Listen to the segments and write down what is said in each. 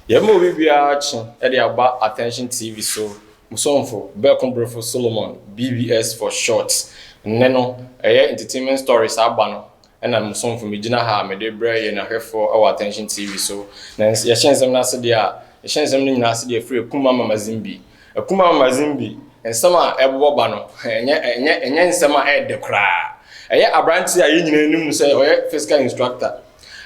Yɛma obi biara kye de aba Attention TV so mo somfo Berko Brefo Solomon, BBS for short. Nnɛ no, ɛyɛ Entertainment Stories aba no. Ɛna mo somfo megyina ha a mede rebrɛ yɛn ahwɛfoɔ wɔ Attention TV so. Na ns yɛhyɛ nsɛm no ase deɛ a, yɛhyɛ nsɛm no nyinaa ase deɛ firi Akumma ma Mazimbi. Akumma ma Mazimbi, nsɛm a ɛbobɔ ba no, ɛnyɛ ɛnyɛ ɛnyɛ nsɛm a ɛyɛ dɛ koraa. Ɛyɛ aberanteɛ a yɛn nyinaa nim no sɛ ɔyɛ physical instructor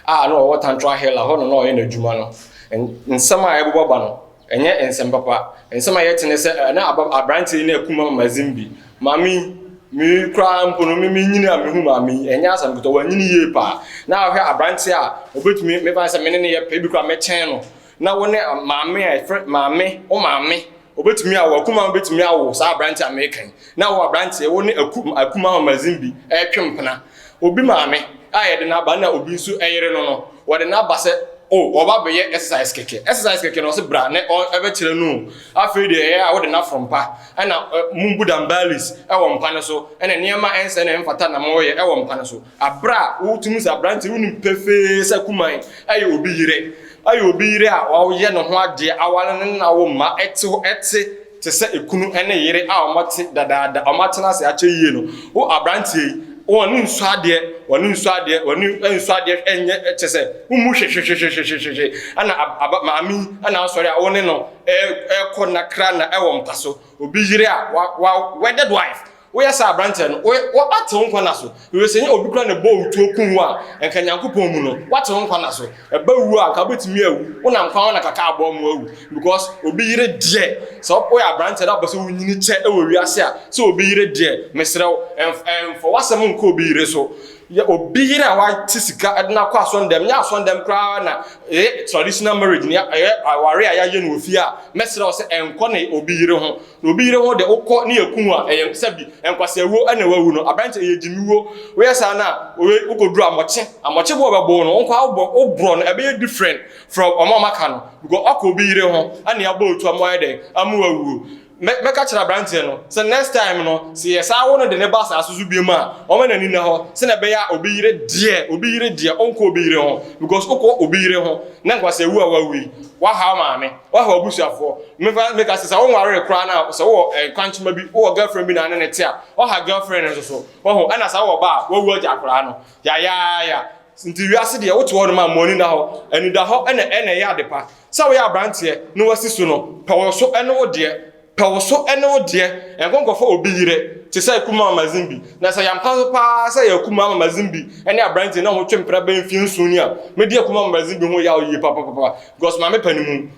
a na ɔwɔ Tantraa Hill a hɔ na na ɔyɛ n'adwuma no. N nsɛm a ɛbobɔ ba no, Ɛnyɛ nsɛm papa. Nsɛm a yɛte ne sɛ, eh, na aba aberanteɛ yi na akum ama mazin bi. Maame yi, me koraa mpo no, me menyini a mehu maame yi, ɛnyɛ asɛm ketewa, wanyini yie paa. Na ahwɛ aberanteɛ a ɔbɛtumi, meba no sɛ me ne no yɛ pɛ, ebi koraa mɛkyɛn no. Na wo ne maame a ɛfrɛ, maame, wo maame, ɔbɛtumi awo, akum ama bɛtumi awo saa aberanteɛ a mereka yi. Na wo aberanteɛ, wo ne aku, akum ama mazin bi ɛretwe mpena. Obi maame a yɛde no aba na obi nso yere no no, wɔde no aba sɛ, O, ɔba abɛyɛ exercise kɛkɛ. Exercise kɛkɛ no, ɔse, Bra na ɔ, ɛbɛkyerɛ no o. Afei deɛ ɛyɛ a wode no aforo mpa, ɛna ɛ, mobu dumbbells wɔ mpa no so, ɛna nneɛma a ɛnsɛ na ɛmfata na moyɛ wɔ mpa no so. Aberɛ a wotumi sɛ aberanteɛ, wonim pefee sɛ Kuman yɛ obi yerɛ. Ayɛ obi yerɛ a wayɛ ne ho adeɛ, aware no na awo mma, ɛte hɔ, ɛte. te sɛ ekunu ne yere a wɔte dadaada, wɔatena ase akyɛ yie no, wo aberanteɛ yi, wɔne nsu adeɛ, wɔne nsu adeɛ, wɔne nsu adeɛ nyɛ kyɛ sɛ womu hwehwehwehwehwehwehwe ɛna aba maame yi ɛna asɔre a wɔne no ɛkɔ na kra na ɛwɔ mpa so obi yere a wa wa wedded wife Woyɛ saa a, aberanteɛ no, wo, wo, woate wo nkwa nna so. Hwɛ sɛ nyɛ obi koraa na ɛbɔɔ wo tuo kum wo a, anka Nyankopɔn mu no, woate wo nkwa nna so. Ɛba wuo a, anka wobɛtumi awu. Wonam kwan ho na kaka abɔ ama woawu. Because obi yere deɛ, sɛ wo, woyɛ aberanteɛ na wopɛ sɛ wonyini kyɛ wɔ wiase a, sɛ obi yere deɛ, mesrɛ wo, ɛmf, ɛmfa w'asɛm nkɔ obi yere so. Yɛ obi yere a wate sika de no akɔ asɔndɛm, nyɛ asɔndɛm koraa na ɛyɛ traditional marriage, nea ɛyɛ aware a yɛayɛ no wɔ fie a, mɛsrɛ wo sɛ ɛnkɔ ne obi yere ho. Na obi yere ho de, wokɔ ne aku ho a, ɛyɛ sɛbi nkwaseawuo na wawu no. Aberante, ɛyɛ gyimiwuo. Woyɛ saa no a, wei, wokɔduru Amɔkye. Amɔkye bo a wɔbɛbo no, wo nkoaa wobɔ, woborɔ no, ɛbɛyɛ different from wɔn a wɔaka no because woakɔ obi yere ho ne abɔ otu ama wayɛ dɛn? Ama wawuo. Mɛ, mɛka akyerɛ aberanteɛ no sɛ next time no, sɛ yɛsan wo no de no ba asaase so biom a, ɔmma n'ani nna hɔ sɛdeɛ ɛbɛyɛ a obi yere deɛ, obi yere deɛ, ɔnkɔ obi yere ho because wokɔ obi yere ho ne nkwaseawuo a wawu yi, woahaw maame. Wahu abusuafoɔ. Mefa meka sɛ sɛ wonwaree koraa no a, sɛ wowɔ eh, kwankyema bi, wowɔ girlfriend bi na ne ne te a, ɔha girlfriend no nso so. Wahu, ɛna sɛ wowɔ ba a, wawu agya akwadaa no. Yayaaya. Nti wiase deɛ, wote hɔ nom a, mmoani nna hɔ. Anidahɔ ɛna ɛna ɛyɛ adepa. Sɛ woyɛ abranteɛ, na wasi so no, pɛ wo so ne wo deɛ. Pɛ wo so ne wo deɛ, ɛnkɔ nkɔfa obi yerɛ te sɛ Akumaa Mazimbi. Na sɛ yɛampa so paa sɛ ɛyɛ Akumaa Mazimbi ne aberanteɛ no a wɔtwe mpena bɛyɛ mfeɛ nson ni a, mɛdi Akumaa Mazimbi ho yaw yie papapapa because Maame Panimu,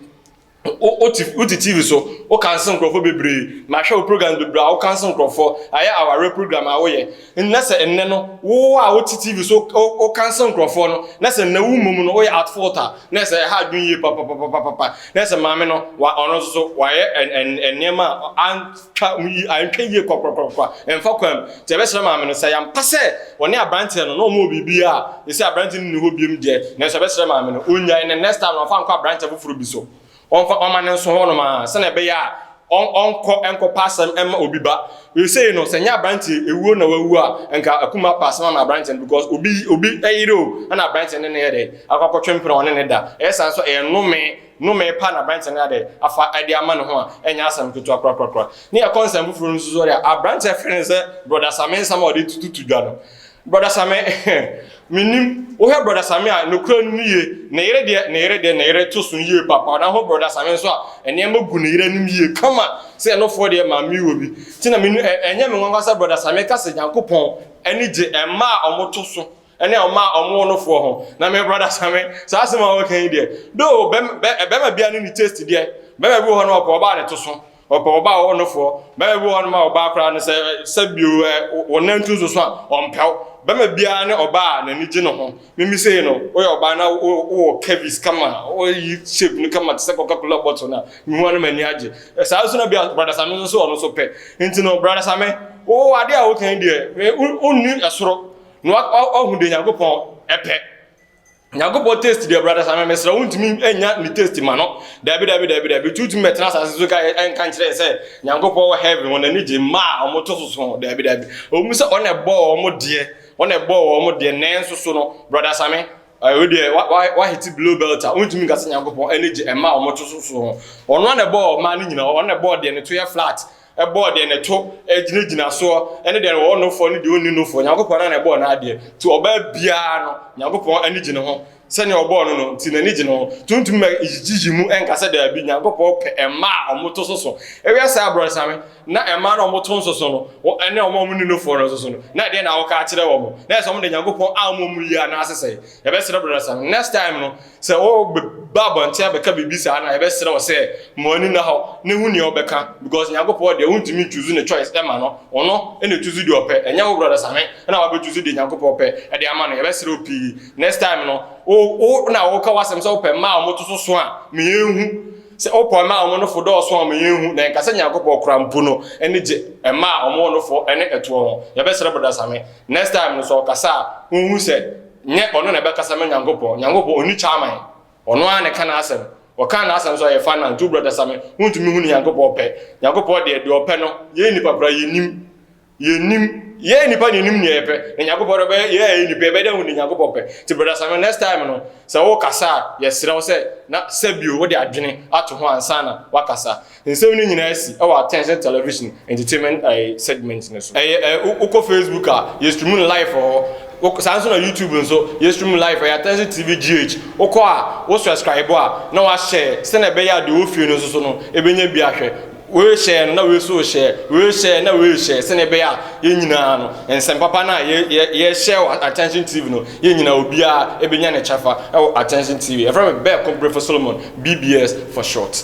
wo te wo te TV so, wo cancel nkorɔfoɔ bebree, mahwɛ wo programs bebree a wo cancel nkorɔfoɔ, ɛyɛ awareɛ program a woyɛ. Nna sɛ nnɛ no wo a wote TV so wokansil nkorɔfoɔ no, na sɛ nnɛ wo mmom no woyɛ at fault a, na ɛsɛ ɛha adwene yie papapapapapa. Na ɛsɛ maame no wa ɔno nso so wayɛ nneɛma a antwa yi antwa yie kwakwakwakwakwa ɛmfa kwan mu. Nti yɛbɛsrɛ maame no sɛ ɛyɛ ampa sɛ ɔne abranteɛ no na wɔn wɔ biribi a, seesei abranteɛ no nni hɔ biom deɛ, nanso yɛbɛsrɛ maame no ɔnnyae na next time no ɔmfa nkɔ abranteɛ foforɔ bi so. Wɔmfa ɔma no nso hɔnom ara, sɛnea ɛbɛyɛ a ɔnkɔ nkɔpa asɛm mma obi ba. Seesei no, sɛ ɛnyɛ aberanteɛ ewuo na wawu a, nka akum apa asɛm ama aberanteɛ no, because obi obi yere o, ɛna aberanteɛ no ne no yɛ dɛn? Akɔ akɔtwe mpena a ɔne no da. Ɛyɛ saa nso a, ɛyɛ nnome, nnome pa na aberanteɛ no ayɛ dɛn? Afa de ama ne ho a, ɛnyɛ asɛm ketewa korakorakora. Ne yɛkɔ nsɛm foforɔ no nso so deɛ a, aberanteɛ frɛ no sɛ Brɔda Same nsɛm a ɔde tututu dwa no, Brɔda Same, Mennim. Wohwɛ Brɔda Same a, nokorɛ no ne yie. Ne yere deɛ, ne yere deɛ, ne yere to so yie papa. Na ho Brɔda Same nso a, nneɛma gu ne yere anim yie kama. Sɛ ɛno foɔ deɛ, Maame wɔ bi. Nti na menni, ɛ, ɛnyɛ me nwanwa sɛ Brɔda Same ka sɛ Nyankopɔn ani gye mmaa a wɔto so ne mmaa a wɔwo no foɔ ho. Na me, Brɔda Same, saa asɛm a woka yi deɛ, though bɛm, bɛ, barima biara ne ne taste deɛ. Barima bi wɔ hɔ no, ɔpɛ ɔbaa a ne to so. Ɔpɛ ɔbaa a ɔwɔ no foɔ. Bɛma bi wɔ hɔ nom a ɔbaa koraa no sɛ sɛ bio ɛ wo nan tu nso so a ɔmpɛ wo. Bɛma biara ne ɔbaa a n'ani gye ne ho. Mimi sei no woyɛ ɔbaa na wo wowɔ curvies kama a woyi shape no kama te sɛ Coca Cola bottle no a mehu a na m'ani agye. Saa nso na bi a Brada Same nso so ɔno nso pɛ. Nti no Brada Same wo adeɛ a woka yi deɛ wo wonni ɛsoro na wa wa wahu deɛ Nyankopɔn pɛ. Nyankopɔn taste deɛ brother Samuel mesrɛ wo ntumi nya ne taste ma no dabi dabi dabi dabi tutumi bɛtena asase so ka ɛnka nkyerɛ sɛ Nyankopɔn wɔ heaven wɔn ani gye mma a wɔn to soso ho dabi dabi wɔn sɛ wɔn ɛbɔɔ wɔn deɛ wɔn ɛbɔɔ wɔn deɛ nanso so no brother Same ɛwɔ deɛ wa wa wa hiti below belt a wɔntumi nka sɛ Nyankopɔn ani gye mma a wɔn to soso ho wɔn na ɛbɔɔ mma no nyinaa wɔn na ɛbɔɔ deɛ ne to yɛ flat bɔɔ deɛ neto gyinagyina soɔ, ne deɛ ɔwɔ nofoɔ ne deɛ ɔnni nofoɔ, Nyankopɔn ara na ɛbɔɔ n'adeɛ, nti ɔbaa biara no Nyankopɔn ani gye ne ho, sɛdeɛ ɔbɔɔ no no nti n'ani gye ne ho, nti wontumi mɛ gyigyi mu nka sɛ daabi Nyankopɔn pɛ mmaa a wɔto soso, woyɛ saa abrɔnsame, na mmaa no a wɔto nsoso no, ne wɔn a wɔnni nofoɔ no nsoso no, na ɛdeɛn na woka akyerɛ wɔn, na ɛsɛ sɛ wɔde Nyankopɔn ammɔ mu yie anaasesɛe, yɛbɛsrɛ brɔnsame, next time no, Sɛ wɔba abɔnten abɛka biribi saa na yɛbɛsrɛ wo sɛ ma w'ani nna hɔ na hu nea ɔbɛka because Nyankopɔn deɛ wontumi nchuzu ne choice ɛma no, ɔno na ɛchuzu deɛ ɔpɛ ɛnyɛ wo brɔda Same na wabɛchuzu deɛ Nyankopɔn pɛ ɛde ama no yɛbɛsrɛ wo pii next time no wo wo na woka w'asɛm sɛ wopɛ mmaa a wɔto so so a ma yɛnhu sɛ wopɛ mmaa a wɔn nofo dɔɔso a ma yɛnhu na yɛnka sɛ Nyankopɔn koraa mpo no ani gye mmaa a wɔn nofo ne ɛtoɔ ho yɛbɛsrɛ brɔda Same next time no sɛ ɔkasa a wonhu sɛ Nyɛ ɔno na ɛbɛkasa ma Nyankopɔn. Nyankopɔn ɔnni kyaman. Ɔno ara na ɛka n'asɛm. Ɔkaa n'asɛm so a yɛfa nante. Wo brɔda Same, wontumi hunu Nyankopɔn pɛ. Nyankopɔn deɛ, deɛ ɔpɛ no, yɛn nnipa koraa yɛnnim. Yɛnnim. Yɛn nnipa na yɛnim neɛ yɛpɛ. Na Nyankopɔn deɛ, ɔbɛyɛ yɛn a yɛyɛ nnipa yi, yɛbɛyɛ dɛn ahunu deɛ Nyankopɔn pɛ? Nti brɔda Same, next time no, sɛ worekasa a, yɛsrɛ wo sɛ na sɛbio wode adwene ato ho ansa na woakasa. Nsɛm no nyinaa si wɔ Attention Television Entertainment segment no so. Ɛyɛ ɛ, wokɔ Facebook a, yɛ stream no live wɔ hɔ. Wo, saa nso na YouTube nso, yɛ stream no live, ɛyɛ Attention TV GH. Wokɔ a, wo srɛskraibo a, na woahyɛɛ, sɛnea ɛbɛyɛ a deɛ ɔwɔ fie no nso so no, ɛbɛnya bi ahwɛ. Wei hyɛɛ no, na wei nso rehyɛɛ, wei rehyɛɛ, na wei rehyɛɛ, sɛnea ɛbɛyɛ a yɛn nyinaa no, nsɛm papa no a yɛ, yɛ, yɛrehyɛɛ wɔ Attention TV no, yɛn nyinaa, obiara bɛnya ne kyɛfa wɔ Attention TV. Yɛfrɛ me Bɛɛko Brefo Solomon, BBS for short.